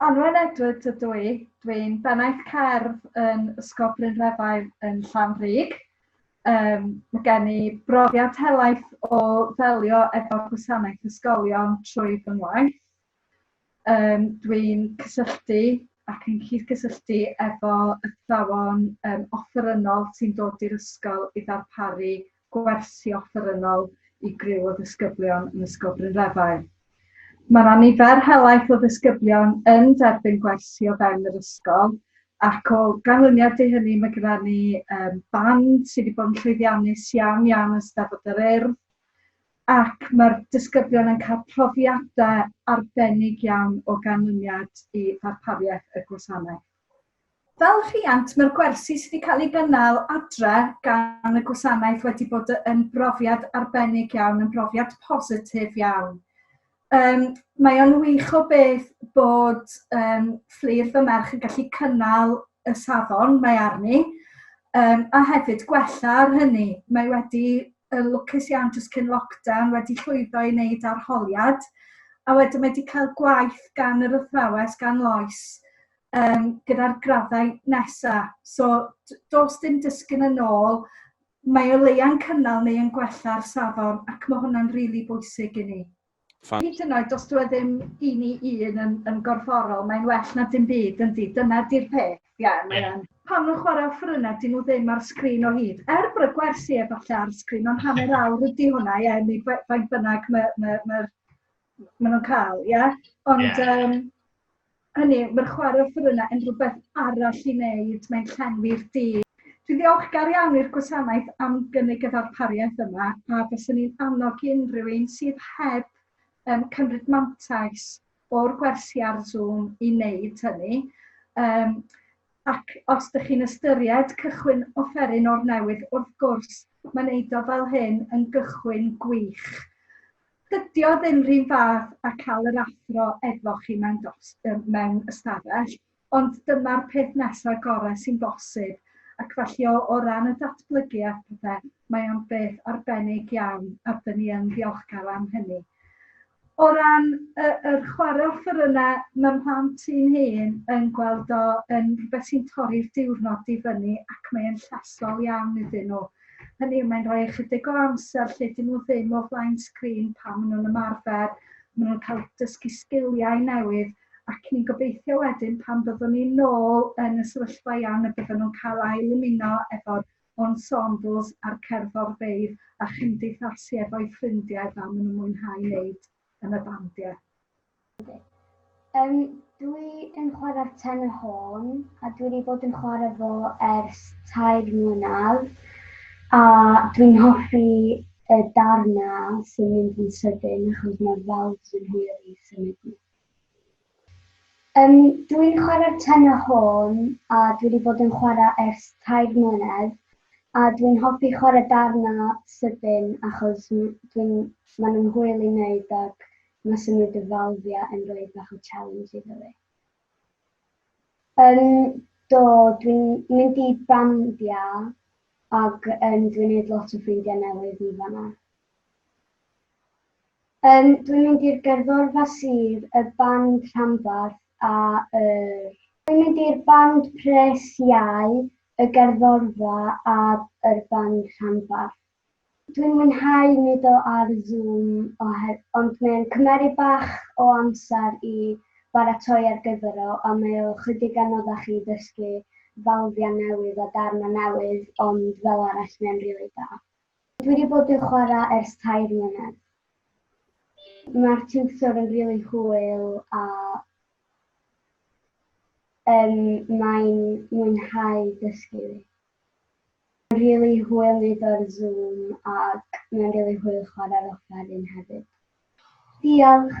Anwen Edwards ydw i. Dwi'n bennaeth cerdd yn Ysgol Brynrefail yn Llanrug. Yym mae gen i brofiad helaeth o ddelio efo gwasanaeth ysgolion trwy fy ngwaith. Yym dwi'n cysylltu ac yn cydgysylltu efo athrawon yym offerynnol sy'n dod i'r ysgol i ddarparu gwersi offerynnol i griw o ddisgyblion yn Ysgol Brynrefail. Mae yna nifer helaeth o ddisgyblion yn derbyn gwersi o fewn yr ysgol ac o ganlyniad i hynny mae gyda ni um, band sydd wedi bod yn llwyddiannus iawn iawn yn Steddfod yr Urdd ac mae'r disgyblion yn cael profiadau arbennig iawn o ganlyniad i ddarpariaeth y gwasanaeth. Fel rhiant, mae'r gwersi sydd wedi cael ei gynnal adre gan y gwasanaeth wedi bod yn brofiad arbennig iawn, yn brofiad positif iawn. Um, mae o'n wych o beth bod um, fflir fy merch yn gallu cynnal y safon mae arni, um, a hefyd gwella ar hynny. Mae wedi yn lwcus iawn jyst cyn lockdown wedi llwyddo i wneud arholiad a wedyn wedi cael gwaith gan yr athrawes, gan Lois, um, gyda'r graddau nesaf. So, dos dim dysgu'n yn ôl, mae o leia'n cynnal neu yn gwella'r safon ac mae hwnna'n rili really bwysig i ni. Fan. Hyd yn oed os dyw e ddim i ni un yn, yn gorfforol, mae'n well na dim byd, yndi? Dyna di'r peth, ie, yeah, mae yeah. Pan nhw'n chwarae offerynnau, dyn nhw ddim ar sgrin o hyd. Er bod y gwersi efallai ar sgrin, ond hanner awr ydy hwnna, ie, yeah, neu faint bynnag mae ma, ma, ma nhw'n cael, ie? Yeah? Ond, yeah. um, Hynny yw, mae'r chwarae offerynnau yn rhywbeth arall i wneud, mae'n llenwi'r dydd. Dwi'n ddiolchgar iawn i'r gwasanaeth am gynnig y ddarpariaeth yma a fyswn i'n annog unrhyw un sydd heb um, cymryd mantais o'r gwersi ar Zoom i wneud hynny. Um, ac os ydych chi'n ystyried cychwyn offeryn o'r newydd, wrth gwrs, mae'n eiddo fel hyn yn gychwyn gwych. Dydy o ddim rhyw fath a cael yr athro efo chi mewn dos, um, mewn ystafell, ond dyma'r peth nesaf gorau sy'n bosib, ac felly o, o ran y datblygu a pethau, mae o'n beth arbennig iawn, a dyn ni yn ddiolchgar am hynny. O ran y, yr chwarae offeryna, mae'r mhlant un hun yn gweld o yn rhywbeth sy'n torri'r diwrnod i fyny ac mae'n llesol iawn iddyn nhw. Hynny yw, mae'n rhoi ychydig o amser lle dyn nhw ddim o flaen sgrin pan maen nhw'n ymarfer, maen nhw'n cael dysgu sgiliau newydd, ac ni'n gobeithio wedyn pan byddwn ni'n nôl yn y sefyllfa iawn y bydden nhw'n cael ail ymuno efo'r ensembles a'r cerddorfeydd a chymdeithasu efo'u ffrindiau fel maen nhw'n mwynhau wneud. yn y bandiau. Yndi. Yym dwi yn chwarae tenor horn a dwi wedi bod yn chwarae fo ers tair mlynedd a dwi'n hoffi y darnau sy'n mynd yn sydyn achos mae'r valves yn hwyr i symud nhw. Yym dwi'n chwara'r tenor horn a dwi wedi bod yn chwara ers tair mlynedd a dwi'n hoffi chwara darna sydyn achos m- dwi'n ma' nhw'n hwyl i neud ac ma' symud y falfia yn roi bach o challenge iddo fi. Yym do dwi'n mynd i bandia ag yym dwi'n neud lot o ffrindia newydd yn fanna. Yym, dwi'n mynd i'r gerddorfa sydd y band rhanbarth a yr. Dwi'n mynd i'r band pres iau, y gerddorfa a yr band rhanbarth. Dwi'n mwynhau mudo ar Zoom oher ond mae'n cymeru bach o amser i baratoi ar gyfer o a mae o chydig anoddach i ddysgu falfiau newydd a darnau newydd ond fel arall mae'n rili da. Dwi wedi bod yn chwarae ers tair mlynedd. Mae'r tiwtor yn rili hwyl a yym mae'n mwynhau dysgu fi. Mae'n rili hwyl neud o ar Zoom ac mae'n rili hwyl chwarae'r offeryn hefyd. Diolch!